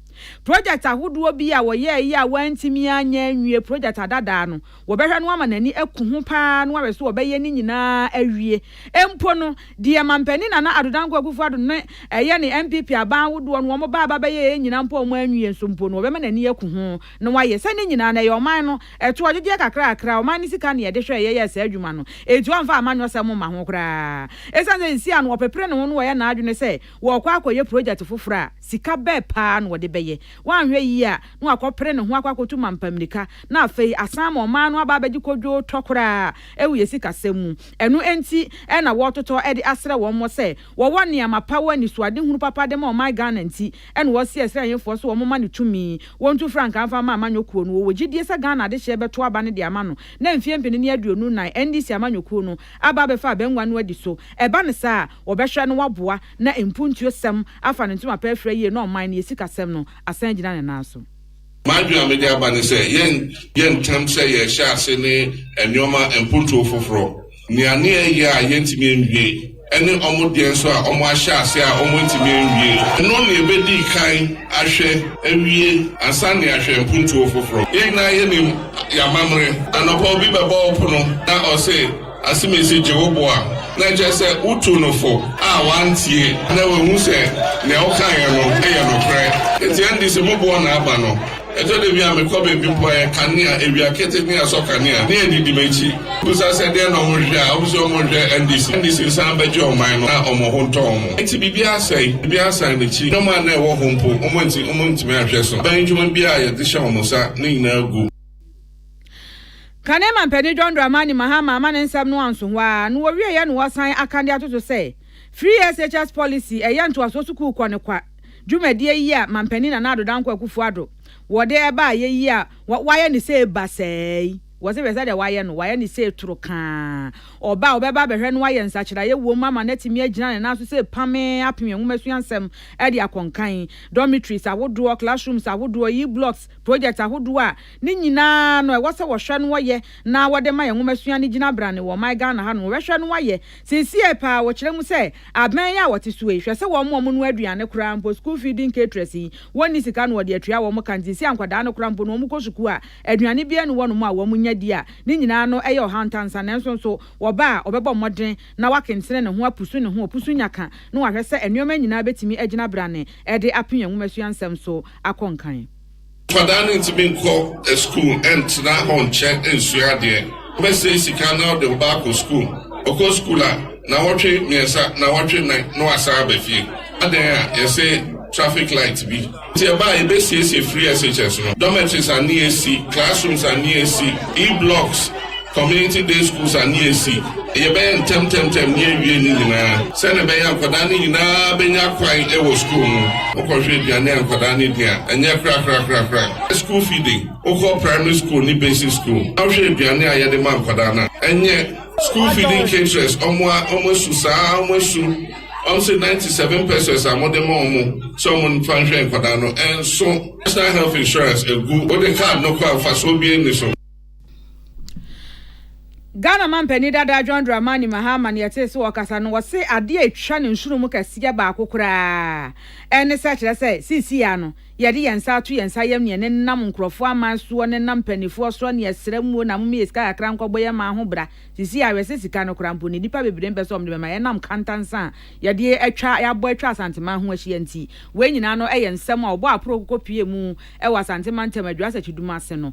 Project ahodoɔ bi a wɔyɛeɛ a wɔantumi anyɛ anwie project adadaa no, Wɔbɛhwɛ no ama n'ani aku ho paa na wɔahwɛ sɛ wɔbɛyɛ ne nyinaa awie. Mpo no, deɛ Mampanin Nana Addo Dankwa Akufo-Addo no yɛ ne NPP aban ahodoɔ no wɔn baaba bɛyɛeɛ nyinaa mpo a wɔn anwie nso mpo no, wɔbɛma n'ani aku ho na wɔayɛ. Sɛ ne nyinaa no, ɛyɛ ɔman no ɛtoɔdwogyeɛ kakrakra, ɔman no sika na yɛde hwɛɛ yɛyɛɛ saa adwuma no. Enti wɔmfa amanyɔsɛm mma ho koraa. Ɛsiane sɛ seesei ano ɔpepere ne ho na wɔyɛ n'adwene sɛ wɔrekɔ akɔyɛ project foforɔ a, Sika bɛɛ paa na ɔde bɛyɛ? Wanhwɛ yie a, na wakɔpere ne ho akɔ akɔtu mampa mmirika, na afei asan ama ɔman no aba abɛgye kodwoo tɔ koraa wɔ yɛn sikasɛm mu. Ɛno nti na wɔretotɔ de asrɛ wɔn mmɔ sɛ wɔwɔ nneɛma pa, wɔ anisoadehunu papa de ma ɔman Ghana nti na wɔsrɛ Israel Ahenfoɔ sɛ wɔmma no tumi, wɔntu frankaa mfa mma amanyɔkuo no. Wɔwɔ gyidie sɛ Ghana adehyeɛ bɛto aba no de ama no na mfeɛ mpene ne aduonu nnan NDC amanyɔkuo no aba abɛfa abangua no adi so. Ɛba no saa a, wɔbɛhwɛ na wɔaboa. na mpuntuosɛm afa ne ntoma pɛ afira yie na ɔman no yɛ sikasɛm no asan agyina ne nan so. M'adwene a mede aba ne sɛ yɛnyɛ ntɛm sɛ yɛrehyɛ ase ne nnoɔma mpuntuo foforɔ. Nea ne yɛyɛ a yɛntumi nwie ɛne wɔn deɛ nso a wɔn ahyɛ ase a wɔntumi anwie. Ɛno na yɛbɛdi kan ahwɛ awie ansa na yɛahwɛ mpuntuo foforɔ. Yɛn nyinaa yɛnim yɛn amammerɛ. Anɔpa obi bɛbɔ wo pono na ɔse. Asɛmti gye wo bo a, na ɛkyerɛ sɛ wotuu no fo a wantie na wanhu sɛ nea ɔkaeɛ no yɛ nokorɛ. Enti ɛnde sɛ moboa no aba no, ɛtɔ da bi a mekɔ baabi mpo a, ɛyɛ kanea, awia keteke ne asɔ kanea, ne adidi m'akyi. Mebisa sɛ deɛn na wɔhwɛ a, wɔse wɔhwɛ NDC. NDC san bɛgye ɔman no na wɔn ho ntɔ wɔn. Enti biribi asɛe, biribi asan n'akyi. Nneɛma a na ɛwɔ hɔ mpo, wɔn anti, wɔntumi anhwɛ so. Aban adwuma biara a yɛde hyɛ wɔn nsa, ne nyinaa agu. Kane Manpanin John Dramani Mahama ama ne nsɛm no anso hɔ ara na wɔwieeɛ na wɔasan aka de atoto sɛ Free SHS Policy ɛyɛ ntoasoɔ sukuukɔ no kwa dwumadie yi a Manpanin Nana Addo Dankwa Akufo-Addo wɔde baeɛ yi a wɔayɛ no sei ba saa yi. Wɔse hwɛ sɛdeɛ wɔayɛ no, wɔayɛ no sei toro kaa. Ɔba a ɔbɛba abɛhwɛ no ayɛ nsakyeraeɛ wom ama no atumi agyina ne nan so sɛ pamee apem nwoma suansɛm de akɔ nkan, dormitories ahodoɔ, classrooms ahodoɔ, e-blocks, projects ahodoɔ a Ne nyinaa no, ɛwɔ sɛ wɔhwɛ no wɔyɛ na wɔde ma yɛn nwomasua no gyina brane wɔ ɔman Ghana hanom. Wɔbɛhwɛ no wɔayɛ. Seesei paa wɔkyerɛ mu sɛ abɛn yi a wɔte so yi, hwɛ sɛ wɔn wɔn noa aduane koraa mpo, school feeding caterers yi, wɔnni sika na wɔde atua wɔn ka nti seesei a nkwadaa no koraa mpo no wɔkɔ sukuu a, aduane biara nni hɔnom a wɔn nya di a ne nyinaa no ɛyɛ ɔhaw ntansa nanso nso wɔba a ɔbɛbɔ mmɔden na wakentene ne ho apusu ne ho, ɔpusu nya ka na wahwɛ sɛ nnoɔma nyinaa bɛtumi agyina brane de apem yɛn nwomasua nsɛm so akɔ nkan. Nkwadaa no ntumi nkɔ sukuu ntra hɔ nkyɛ nsua adeɛ. Wobɛsɛe sika na wode wo ba akɔ sukuu. Ɔkɔ sukuu a, nnawɔtwe mmiɛnsa, nnawɔtwe nnan na wasan aba fie. Adɛn a yɛse traffic light bi nti ɛba a yɛbɛsiesie free SHS no, dormitories a ne yɛsi, classrooms a ne yɛsi, E-blocks Community day schools a ne yɛsi, yɛbɛyɛ ntɛmntɛmntɛm ne yɛawie ne nyinaa sɛdeɛ ɛbɛyɛ a nkwadaa no nyinaa bɛnya kwan wɔ sukuu mu. Wokɔhwɛ aduane a nkwadaa no di a, ɛnyɛ korakorakorakora. School feeding, wokɔ primary school ne basic school na wohwɛ aduane a yɛde ma nkwadaa no a, ɛnyɛ. School feeding caterers, wɔn a wɔasu saa ara, wɔasu. Wɔn se ninety seven pesos a mode ma wɔn sɛ wɔmfa nhwɛ nkwadaa no, ɛnso. National health insurance agu, wode card no kɔ a mfasoɔ biara nni so. Ghana mampanin dada John Dramani Mahama na yɛtee sɛ ɔkasa no, ɔse adeɛ a ɛtwa ne nsono mu kɛseɛ baako koraa ne sɛ kyerɛ sɛ seesei ara no yɛde yɛn nsa ato yɛn nsa yam neɛ ne nam nkurɔfoɔ aman soɔ ne nam mpaninfoɔ soɔ ne yɛsrɛ muo na momeyɛ sika kakra nkɔbɔ yɛn man ho bra seesei ara hwɛsɛ sika no koraa mpo ne nipa bebree mpɛ sɛ wɔn de bɛma ɛnam kantansa a yɛde atwa yɛabɔ atwa asanteman ho ahyia nti wei nyinaa no ɛyɛ nsɛm a ɔbɔ aporo kɔkɔ pie mu ɛwɔ asante mantam adwuasɛkyi dum ase no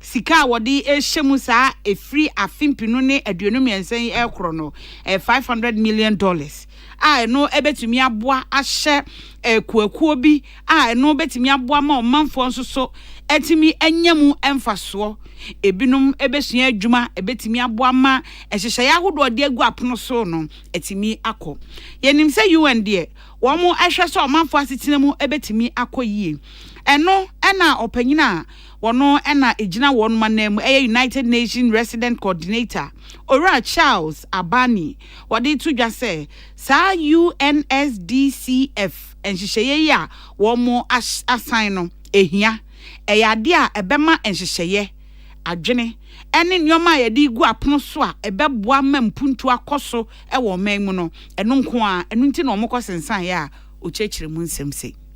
Sika a wɔde rehyɛ mu saa ɛfiri afe mpenu ne aduonu mmiɛnsa yi rekoro no, ɛyɛ five hundred million dollars a ɛno bɛtumi aboa ahyɛ akuakuo bi a ɛno bɛtumi aboa ma ɔmanfoɔ nso so atumi anya mu mfasoɔ. Ebinom bɛsua adwuma, ɛbɛtumi aboa ma nhyehyɛeɛ ahodoɔ a wɔde agu apono so no atumi akɔ. Yɛnim sɛ UN deɛ, wɔhwɛ sɛ ɔmanfoɔ asetena mu bɛtumi akɔ yie. Ɛno na ɔpanin a Wɔno na ɛgyina wɔnom ananmu ɛyɛ United Nations Resident Coordinator, Owura Charles Abani. Wɔde to dwa sɛ saa UNSDCF nhyehyɛeɛ yi a wɔn asan no ɛhia. Ɛyɛ adeɛ a ɛbɛma nhyehyɛeɛ, adwene, ɛne nneɛma a yɛde regu apono so a ɛbɛboa ma mpuntuo akɔ so wɔ ɔman mu no, ɛno nko ara. Ɛno nti na wɔkɔ sensaneeɛ a ɔkyerɛkyerɛ mu nsɛm sei.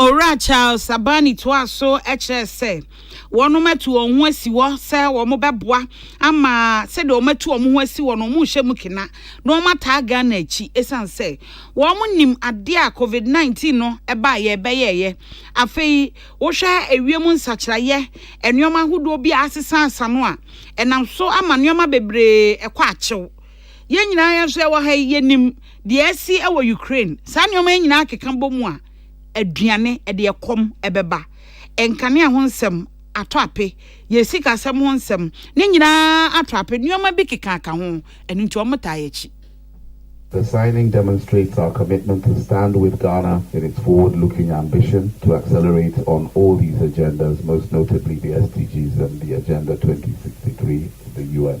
Owura Charles Abani toaa so kyerɛɛ sɛ, wɔnom atu wɔn ho asi hɔ sɛ wɔbɛboa ama sɛdeɛ wɔatu wɔn ho asi hɔ no wɔrehyɛ mu kena na wɔataa Ghana akyi ɛsiane sɛ wɔnim adeɛ a COVID-19 no baeɛ ɛbɛyɛeɛ. Afei wohwɛ ewiem nsakyeraeɛ, nneɛma ahodoɔ bi a asesasesa no a, ɛnam so ama nneɛma bebree kɔ akyew. Yɛn nyinaa yɛn nso yɛwɔ ha yi, yɛnim deɛ asi wɔ Ukraine. Saa nneɛma yi nyinaa keka bɔ mu a, aduane, ɛde ɛkɔm ɛbɛba, nkanea ho nsɛm atɔ ape, yɛn sikasɛm ho nsɛm, ne nyinaa atɔ ape. Nneɛma bi kekaaka ho, ɛno nti wɔtaa yɛn akyi. The signing demonstrates our commitment to stand with Ghana in its forward-looking ambition to accelerate on all these agendas, most notably the SDGs and the Agenda 2063 of the UN.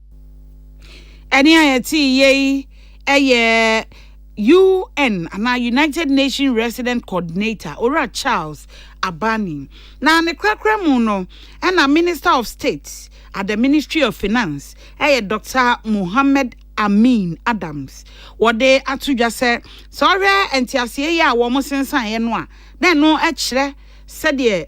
Ɛne a yɛte yei ɛyɛ UN anaa United Nations Resident Coordinator Owura Charles Abani. Na ne korakora mu no, ɛna Minister of State at the Ministry of Finance ɛyɛ Dr. Mohammed Amin Adams. Wɔde ato dwa sɛ, sɛ ɔhwɛ nteaseɛ yi a wɔn sensaneɛ no a, na ɛno kyerɛ sɛdeɛ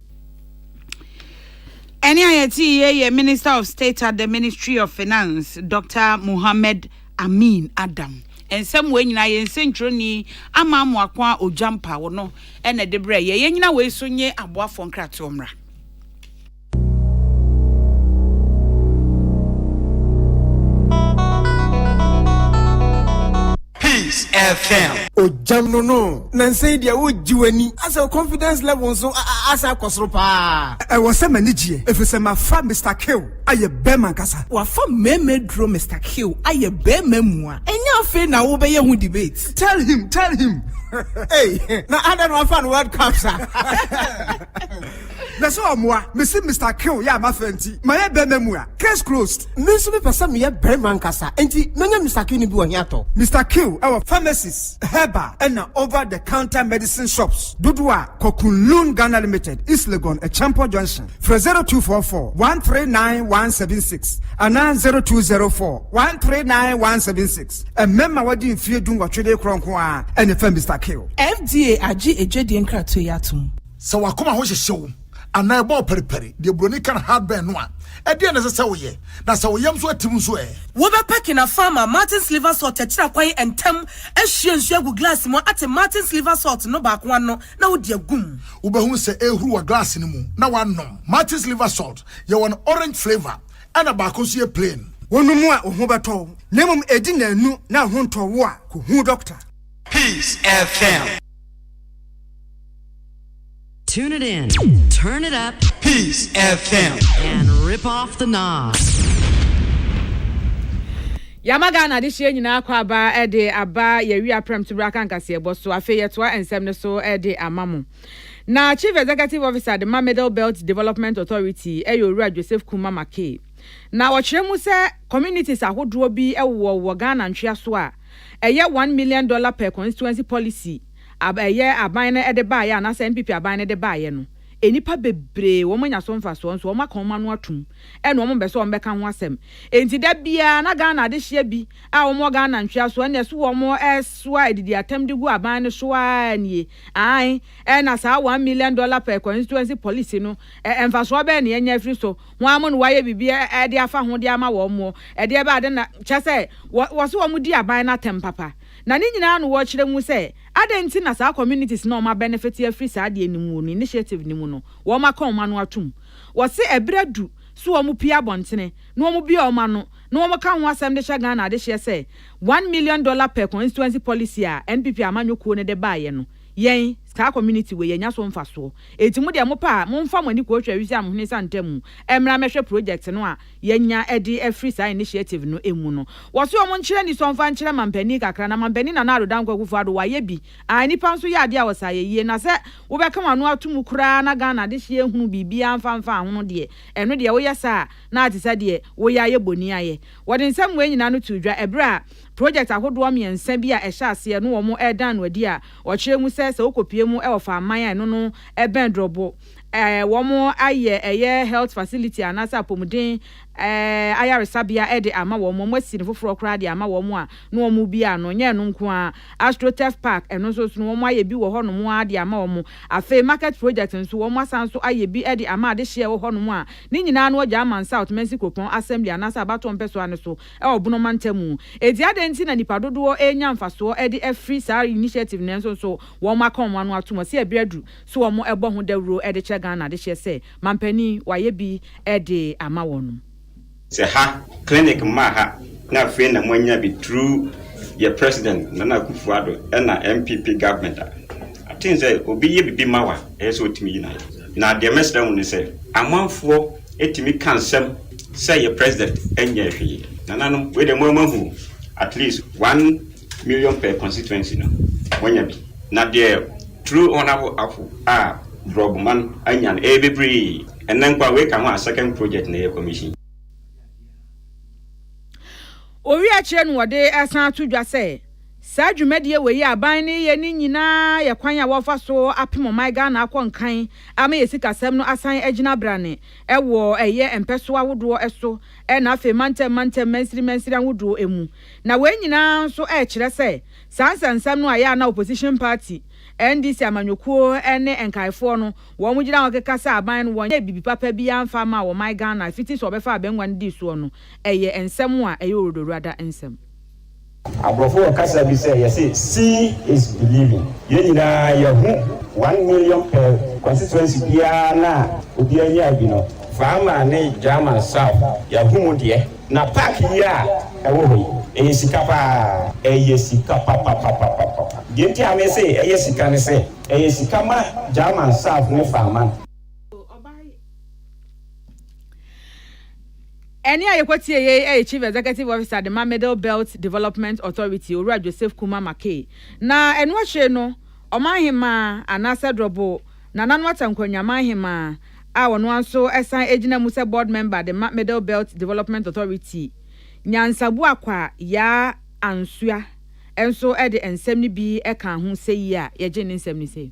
Ɛnne a yɛte yɛ yɛ Minister of State at the Ministry of Finance, Dr. Mohammed Amin Adam. Nsɛm wei nyinaa yɛ nsɛntwerɛni ama amoako a Ogyampa wɔ no ɛna ɛde brɛ yɛ. Yɛn nyina wei so nye aboafoɔ nkratoɔ mmra. Peace FM. Ogya no no. Nansa yi deɛ wogye w'ani. Asɛ wo confidence level nso asan akɔ soro paa. Ɛwɔ sɛ m'ani gyeɛ efisɛ mafa Mister Kill ayɛ bɛɛma ankasa. Wafa mmɛɛma aduro Mister Kill ayɛ bɛɛma mua. Ɛnyɛ afei na wobɛyɛ ho debate. Tell him, tell him, ei. Na adɛn na wafa no world cup sa. Mɛ sɛ ɔmoa me si Mister Kill yɛ a mafɛ nti ma yɛ bɛɛma mu a case closed. Me nso me pɛ sɛ me yɛ bɛɛma ankasa nti mɛnya Mister Kill no bi wɔ he atɔ? Mister Kill ɛwɔ pharmacies, herbal ɛna over the counter medicine shops dodoɔ a kɔ Kunlun Ghana Limited, East Legon, Acheampong Junction. Frɛ zero two four four one three nine one seven six anaa zero two zero four one three nine one seven six. Mmarima a wɔadi mfeɛ du nwɔtwe de rekorɔ nko ara na ɛfa Mister Kill. FDA agye adwadie nkratoɔ yi atom. Sɛ w'akoma ho hyehye wo anaa ɛbɔ wo pɛrepɛre, deɛ buroni ka no heartburn no a, ɛdeɛn na ɛsɛ sɛ woyɛ? Na sɛ wo yam nso atim nso ɛ? Wobɛpaki na Farmer Martin's Liver Salt akyiri akwan ntɛm, ahwie nsuo agu glass mu, ate Martin's Liver Salt no baako ano, na wode agu mu. Wobɛhunu sɛ ɛrehuru wɔ glass no mu na woanom. Martin's Liver Salt yɛ wɔ no orange flavour. ɛna baako nso yɛ plain. Wɔnom mu a wo ho bɛtɔ wo na mmom ɛdi nnanu na wo ho ntɔ wo a, kɔ hu dɔkta. Peace FM. Tune it in, turn it up. Peace FM. And rip off the knobs. yɛama ghana adehyeɛ nyinaa kɔ aba de aba yɛwi aprɛm to berɛ aka nkaseɛbɔ so afei yɛtoa nsɛm no so de ama mo Na Chief Executive Officer de ma Middle Belt Development Authority yɛ Owura Joseph Kumah Mackay. Na ɔkyerɛ mu sɛ communities ahodoɔ bi wowɔ wɔ Ghana ntweaso a ɛyɛ one million dollar per constituency policy a ɛyɛ aban no de baeɛ anaasɛ NPP aban no de baeɛ no nnipa bebree wɔn anya so mfasoɔ nso wɔn aka wɔn ano atom ɛna wɔn mpɛ sɛ wɔn bɛka ho asɛm enti da biara na Ghana adehyeɛ bi a wɔn wɔ Ghana ntweaso ɛna ɛso wɔn ɛsoa adidi atam de gu aban no so ara nie Aane, ɛna saa one million dollar per constituency policy no, mfasoɔ bɛn na yɛanya afiri so? Hwan mu na wɔayɛ biribi de afa ho de ama wɔn? Ɛdeɛ bɛyɛ ade na, kyerɛ sɛ, wɔse wɔdi aban no atɛm papa? Na ne nyinaa na wɔkyerɛ mu sɛ, adɛn nti na saa communities no a wɔabɛnefete afiri saa adeɛ no mu no, initiative no mu no, wɔaka wɔn ano atom? Wɔse ɛberɛ adu se wɔpue abɔntene na wɔbue wɔn ano, na wɔka ho asɛm de hyɛ Ghana adehyeɛ sɛ one million dollar per constituency policy a NPP amanyɔ kuo no de baeɛ no yɛn saa community wei yɛanya so mfasoɔ enti mo deɛ mopɛ a momfa mo ani kɔhwɛ Awisi Amhene Santa mu mmra mmɛhwɛ project no a yɛanya de afiri saa initiative no mu no. Wɔse wɔn nkyerɛ anisɔ mfa nkyerɛ mampanin kakra na mampanin Nana Addo Dankwa Akufo Addo wayɛ bi a nnipa nso yɛ adeɛ a wɔse ayɛ yie na sɛ wobɛka w'ano ato mu koraa na Ghana adehyeɛ hunu biribiara mfa mfaa ho no deɛ ɛno deɛ woyɛ saa a na te sɛ deɛ woyɛ a yɛ boni ayɛ. Wɔde nsɛm wei nyinaa no too dwa ɛberɛ a project ahodoɔ mmiɛnsa bi a ɛhyɛ aseɛ no wɔn redan no adi a wɔkyerɛ mu sɛ sɛ wokɔpue mu wɔ Faman a ɛno no bɛn Drɔbo a wɔn ayɛ ɛyɛ health facility anaasɛ apɔmuden ayaresabea de ama wɔn, wɔn asi no foforɔ koraa de ama wɔn a na wɔn rebue a no nyɛ ɛno nko ara, Astroturf Park ɛno nso so no wɔn ayɛ bi wɔ hɔ nom ara de ama wɔn. Afei Market Project nso wɔn asan nso ayɛ bi de ama adehyeɛ a ɛwɔ hɔ nom a Ne nyinaa no wɔgyaa man South Mansi Kuropɔn Assembly anaasɛ abatoɔ mpɛsoa no so wɔ Bono mantam mu. Enti adɛn nti na nnipa dodoɔ renya mfasoɔ de afiri saa initiative no nanso nso wɔn aka wɔn ano atom ɔse ɛberɛ aduru so wɔn bɔ ho dawuro de kyerɛ Ghana adehyeɛ sɛ manpanin wayɛ bi de ama wɔnom. Sɛ ha clinic mmaa ha na afei na moanya bi through yɛ President Nana Akufo-Addo ɛna NPP government a. Aten sɛ obi yɛ bibi ma wo a ɛyɛ sɛ otumi yi no ayɛ. Na deɛ mɛsrɛ mo ne sɛ amanfoɔ tumi ka nsɛm sɛ yɛ president nyɛɛ hwee. Nananom wei deɛ mo ara mo ahu o, at least one million per constituency no mo anya bi. Na deɛ true honourable Apo a Brɔboma no anya no ɛyɛ bebree. Ɛnnɛ nko ara wei ka ho a second project na ɛyɛ commission. Owie akyire no wɔde ɛsan ato dwa sɛ. Saa dwumadie wei a aban no reyɛ no nyinaa yɛ kwan a wɔrefa so apem ɔman Ghana akɔ nkan ama yɛn sikasɛm no asan agyina abrane wɔ ɛyɛ mpɛsoɔ ahodoɔ so na afei mantam mantam mansini mansini ahodoɔ mu. Na wei nyinaa nso rekyerɛ sɛ saa nsɛnsɛm no a ɛyɛ a na opposition party, NDC amanyɔkuo ne nkaefoɔ no wɔn gyina hɔ keka sɛ aban no wɔnyɛɛ biribi papa biara mfa mmaa ɔman Ghana fiti sɛ wɔbɛfa abangua no dii soɔ no ɛyɛ nsɛm a ɛyɛ ɔwuradawurada nsɛm. Aborɔfo wɔ kasa bi sɛ yɛse see is believing. Yɛn nyinaa yɛahu one million pɛ constituency biara no a obiara nyaa bi no, Faama ne German South yɛahu mu deɛ. Na park yi a ɛwɔ hɔ yi, ɛyɛ sika paa, ɛyɛ sika papapapapapa. Deɛ nti a mese ɛyɛ sika ne sɛ, ɛyɛ sika ma German South ne Faama. Ɛnne a yekotieei yɛ Chief Executive Officer de ma Middle Belt Development Authority, Owura Joseph Kumah Mackay, na ɛno akyire no, Ɔmanhemmaa anaasɛ Drɔbo Nana Nuatta Nkwanywa Amanhemmaa a ɔno ara nso san gyina mu sɛ Board Member de ma Middle Belt Development Authority, Nyansabuakwa Yaa Ansua nso de nsɛm no bi kaa ho sɛ yi a yɛgye ne nsɛm ne sɛ.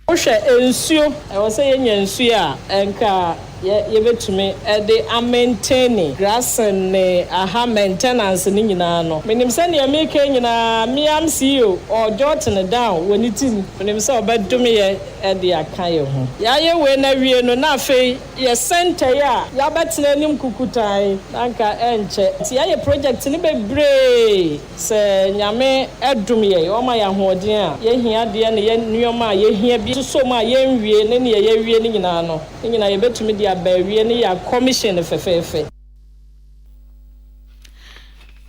Wohwɛ nsuo, ɛwɔ sɛ yɛnya nsuo a anka yɛbɛtumi de amɛnteni grasen ne aha mɛntɛnanse no nyinaa no. Menim sɛ deɛ mereka yi nyinaa meam CEO ɔɔjot no down wɔ ne tirim, menim sɛ ɔbɛdome yɛn de aka yɛn ho. Yɛayɛ wei no awie no na afei yɛ centre yi a yɛabɛtena anim kukutaa yi na anka ɛnkyɛ nti yɛayɛ project no bebree. Sɛ Nyame dom yɛn, ɔma yɛn ahoɔden a, yɛn ahiadeɛ ne yɛn nnoɔma a yɛhia bi soso mu a yɛnwie ne neɛ yɛawie no nyinaa no, ne nyinaa yɛbɛtumi de aba awie ne yɛn kɔmihyin no fɛfɛɛfɛ.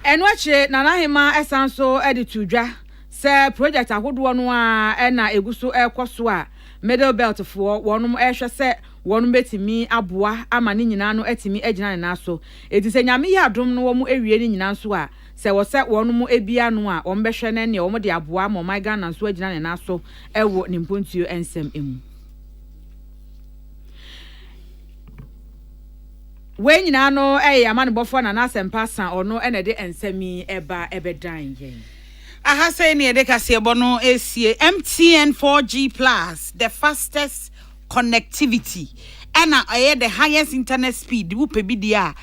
Ɛno akyire, Nana Ahemaa san nso de too dwa sɛ project ahodoɔ no ara na ɛgu so rekɔ so a Middle Belt foɔ wɔn rehwɛ sɛ wɔn bɛtumi aboa ama ne nyinaa no atumi agyina ne nan so. Enti sɛ Nyame yɛ adom na wɔawie ne nyinaa nso a, Sɛ wɔsɛ wɔn mu bi ano a, wɔbɛhwɛ no ɛneɛ wɔde aboa ama ɔman Ghana nso agyina ne nan so wɔ ne mpontuo nsɛm mu. Wei nyinaa no ɛyɛ yɛn amanebɔfoɔ Nana Asɛmpa Asan, ɔno na ɛde nsɛm yi ɛba ɛbɛdan yɛn. Aha sei na yɛde kaseɛbɔ no resie, MTN 4G Plus, the fastest connectivity ɛna ɛyɛ the highest internet speed wopɛ bi deɛ a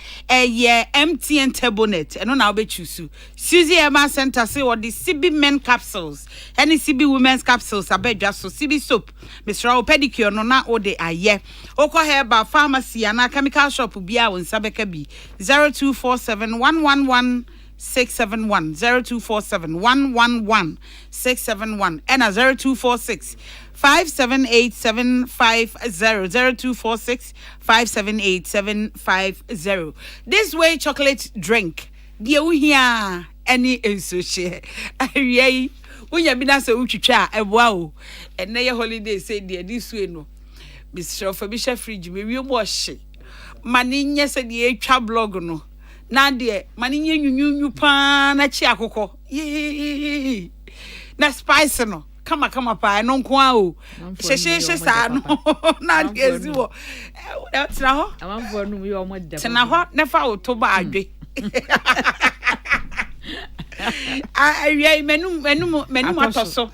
ɛyɛ mtn turbonet ɛno na wobɛtwi so suzy ɛma center se wɔde cb men capsules ɛne cb women's capsules aba adwa so cb soap mesrɛ wo pedicure no na wode ayɛ wokɔ herbal pharmacy anaa chemical shop biara wo nsa bɛka bi 0247 111 six seven one zero two four seven one one one six seven one ɛna zero two four six five seven eight seven five zero zero two four six five seven eight seven five zero this way chocolate drink deɛ wohia ɛne nsuo hyɛ awia yi wonya bi na sɛ wotwitwa a ɛboa o ɛnɛ yɛ holiday sɛ deɛ de sue no mesrɛ fa bi hyɛ fridge mewie mu ɔhye ma ne nyɛ sɛ deɛ ɛtwa blog no na deɛ ma no nyɛ nwunwunwu paa na kyi akokɔ yii na spice no kama kama paa ɛno nko ara o hyehyeehye saa no na adeɛ si wɔ tena hɔ tena hɔ na fa wo to ba adwe awia yi m'anum m'anum m'anum atɔ so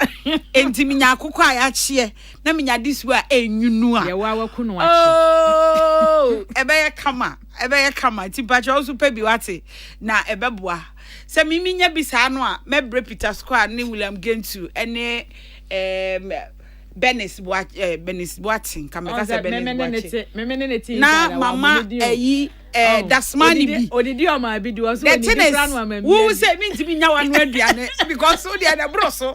nti menya akokɔ a yɛakyeɛ na menya de su a ɛnyunu a ɛbɛyɛ kama Ɛbɛyɛ kama nti mpakyɛ wo nso pɛ bi wate na ɛbɛboa. Sɛ me menya bi saa no a mɛbrɛ Peter Squire ne William Gentoo ne ɛɛm Bernice Boakye ɛɛ Bernice Boakye nka mɛka sɛ Bernice Boakye na mama ɛyi ɛɛ Dasmani bi. The thing is wo sɛ mintimi nya w'ano aduane because wo deɛ na ɛboro so.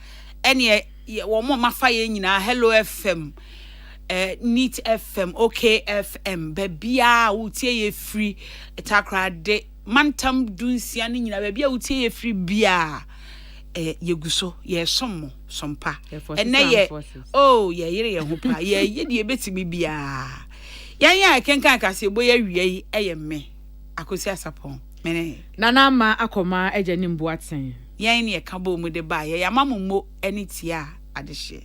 ɛneɛ yɛ wɔn a mafa yɛn nyinaa hello fm eh, neat fm okfm baabiaa a wotie yɛ firi takorade mantam dunsia no nyinaa baabi a wotie yɛ firi biaa eh, yɛgu so yɛsom mo sompa Yɛ forces ɛnɛ and yɛ forces. oh yɛyere yɛn ho paa yɛyɛ deɛ ɛbɛtumi biaa yɛn a ɛkenkan kaseɛbɔ yɛ awia yi ɛyɛ me akosi asapɔn Mene. Nana Ama akɔma agya ne mbu aten. Yɛn ne ɛka bɔɔ mu de baeɛ. Yɛama mo mo ani tiaa adehyeɛ.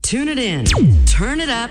Tune it in, turn it up.